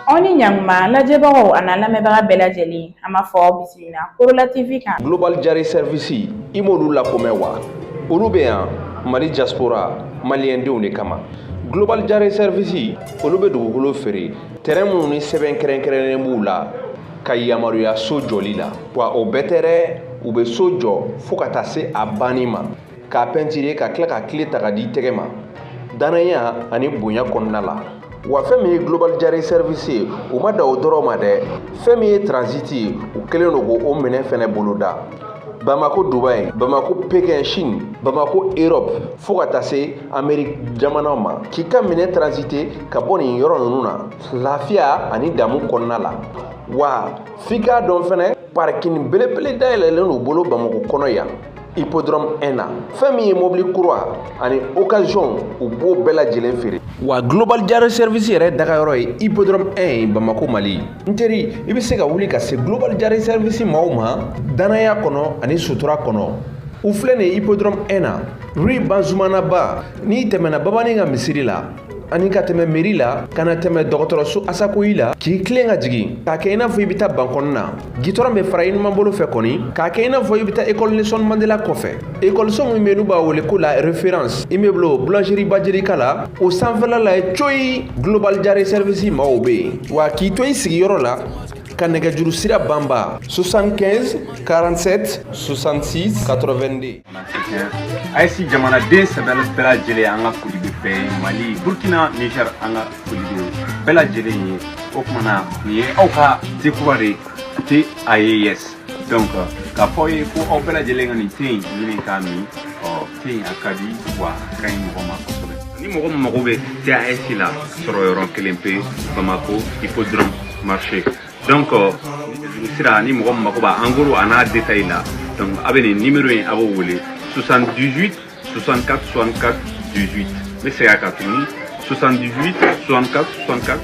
aw ni ɲakuma lajɛbagaw a n'a lamɛnbaga bɛɛ lajɛlen an b'a fɔ aw bisimila korola tv kan global jare sɛrivisi i m'olu la ko mɛn wa olu bɛ yan mali jaspora maliyɛndenw de kama global jare sɛrivisi olu bɛ dugukolo feere tɛrɛn minnu ni sɛbɛn kɛrɛnkɛrɛnnen b'u la ka yamaruya so jɔli la wa o bɛɛ tɛ dɛ u bɛ so jɔ fo ka taa se a banni ma k'a pɛntire ka tila ka kile ta k'a d'i tɛgɛ ma dannaya ani bonya kɔnɔna la wa fɛn min ye global jare service ye u ma da o dɔrɔn ma dɛ fɛn min ye transiti ye u kɛlen don k'o minɛ fɛnɛ boloda bamako dubai bamako pekin chine bamako europe fo ka taa se ameriki jamanaw ma k'i ka minɛn transite ka bɔ nin yɔrɔ ninnu na lafiya ani damu kɔnɔna la wa f'i k'a dɔn fɛnɛ parikini belebele dayɛlɛlen n'u bolo bamako kɔnɔ yan hippodrome 1 na fɛn min ye mobili kura ani occasion u b'o bɛɛ lajɛlen feere wa global jare service yɛrɛ dagayɔrɔ ye hippodrome 1 ye bamako mali n teri i bɛ se ka wuli ka se global jare service maaw ma dannaya kɔnɔ ani sutura kɔnɔ u filɛ nin hippodrome 1 na rue banzumanaba n'i tɛmɛna babani ka misiri la ani ka tɛmɛ meri la ka na tɛmɛ dɔgɔtɔrɔso asacohi la k'i tilen ka jigin k'a kɛ i n'a fɔ i bɛ taa bankɔni na gitɔrɔn bɛ fara i numan bolo fɛ kɔni k'a kɛ i n'a fɔ i bɛ taa ekɔli nelson mandela kɔfɛ ekɔliso min bɛ n'u b'a wele ko la reference immeuble boulangerie bajelika la o sanfɛla la coyi global jare service maaw bɛ yen wa k'i to i sigiyɔrɔ la ka nɛgɛjuru sira banba 75 47 66 82 aes jamanaden sɛbɛn bɛɛ lajɛlen an ka foli bɛ bɛɛ ye mali burkina niger an ka foli bɛ bɛɛ lajɛlen ye o kumana nin ye aw ka te kura de te aes donc k'a fɔ ye ko aw bɛɛ lajɛlen ka nin te in ɲini k'a min ɔ te in a ka di wa a ka ɲi mɔgɔ ma kosɛbɛ ni mɔgɔ min mago bɛ te aes la sɔrɔ yɔrɔ kelen pe bamako hippodrome marché donc sira ni mɔgɔ min mako b'a en gros a n'a détail la donc a bɛ nin numéro in a b'o wele 78 64 64 18 n bɛ segin a kan tuguni 78 64 64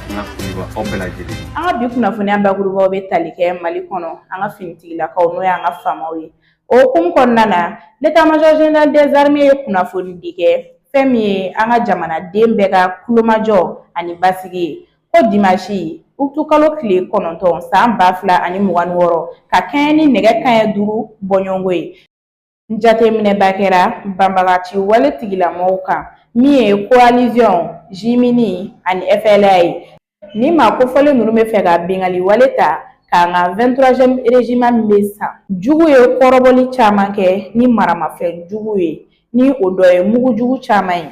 an ka foli bɛ aw bɛɛ lajɛlen an ka bi kunnafoniya bakurubaw bɛ tali kɛ mali kɔnɔ an ka finitigilakaw n'o y'an ka famaw ye o hukumu kɔnɔna na l'état major général des armées ye kunnafoni di kɛ fɛn min ye an ka jamanaden bɛɛ ka kulomajɔ ani basigi ye Ko dimansi utukalo tile kɔnɔntɔn san ba fila ani mugan ni wɔɔrɔ ka kɛɲɛ ni nɛgɛ kanɲɛ duuru bɔɲɔgɔnko ye jateminɛba kɛra banbagaci wale tigilamɔgɔw kan min ye coalition jimini ani FLA ye ni maa kofɔlen ninnu bɛ fɛ ka binkanni wale ta k'an ka vingt-troisième régiment min bɛ san jugu ye kɔrɔbɔli caman kɛ ni maramafɛn jugu ye ni o dɔ ye mugu jugu caman ye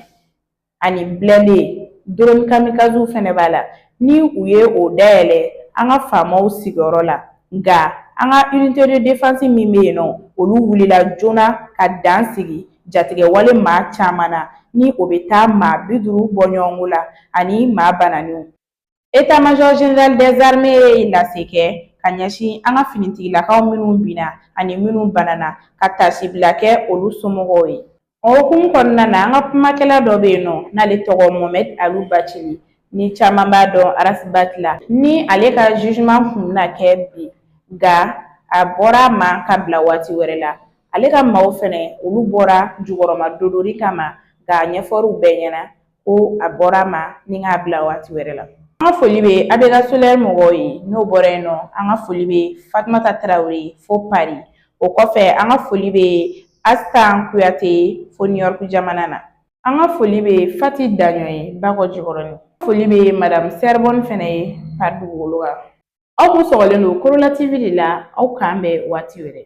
ani blindé drone kamikaziw fɛnɛ b'a la ni u ye o dayɛlɛ an ka faamaw sigiyɔrɔ la nka an ka unité de défense min bɛ yen nɔ olu wulila joona ka dan sigi jatigɛwale maa caman na ni o bɛ taa maa bi duuru bɔ ɲɔgɔnko la ani maa bananiw ye lase kɛ ka ɲɛsin an ka finitigilakaw minnu binna ani minnu banana ka taasi bila kɛ olu somɔgɔw ye o hukumu kɔnɔna na an ka kumakɛla dɔ bɛ yen nɔ n'ale tɔgɔ Mohamed Alu Bacili ni caman b'a dɔn Ras Bath la ni ale ka jugement kun bɛna kɛ bi nka a bɔra a ma ka bila waati wɛrɛ la ale ka maaw fɛnɛ olu bɔra jukɔrɔma dondoli kama nka a ɲɛfɔr'u bɛɛ ɲɛna ko a bɔra a ma ni k'a bila waati wɛrɛ la an ka foli bɛ abega solaire mɔgɔw ye n'o bɔra yen nɔ an ka foli bɛ fatumata tarawele fo pari o kɔfɛ an ka foli bɛ asitan kuyate fo niyɔrɔku jamana na an ka foli bɛ fati daɲɔ ye bakɔ jikɔrɔni foli bɛ madamu sɛribɔni fɛnɛ ye pari dugukolo kan aw kun sɔgɔlen don korola tv de la aw k'an bɛn waati wɛrɛ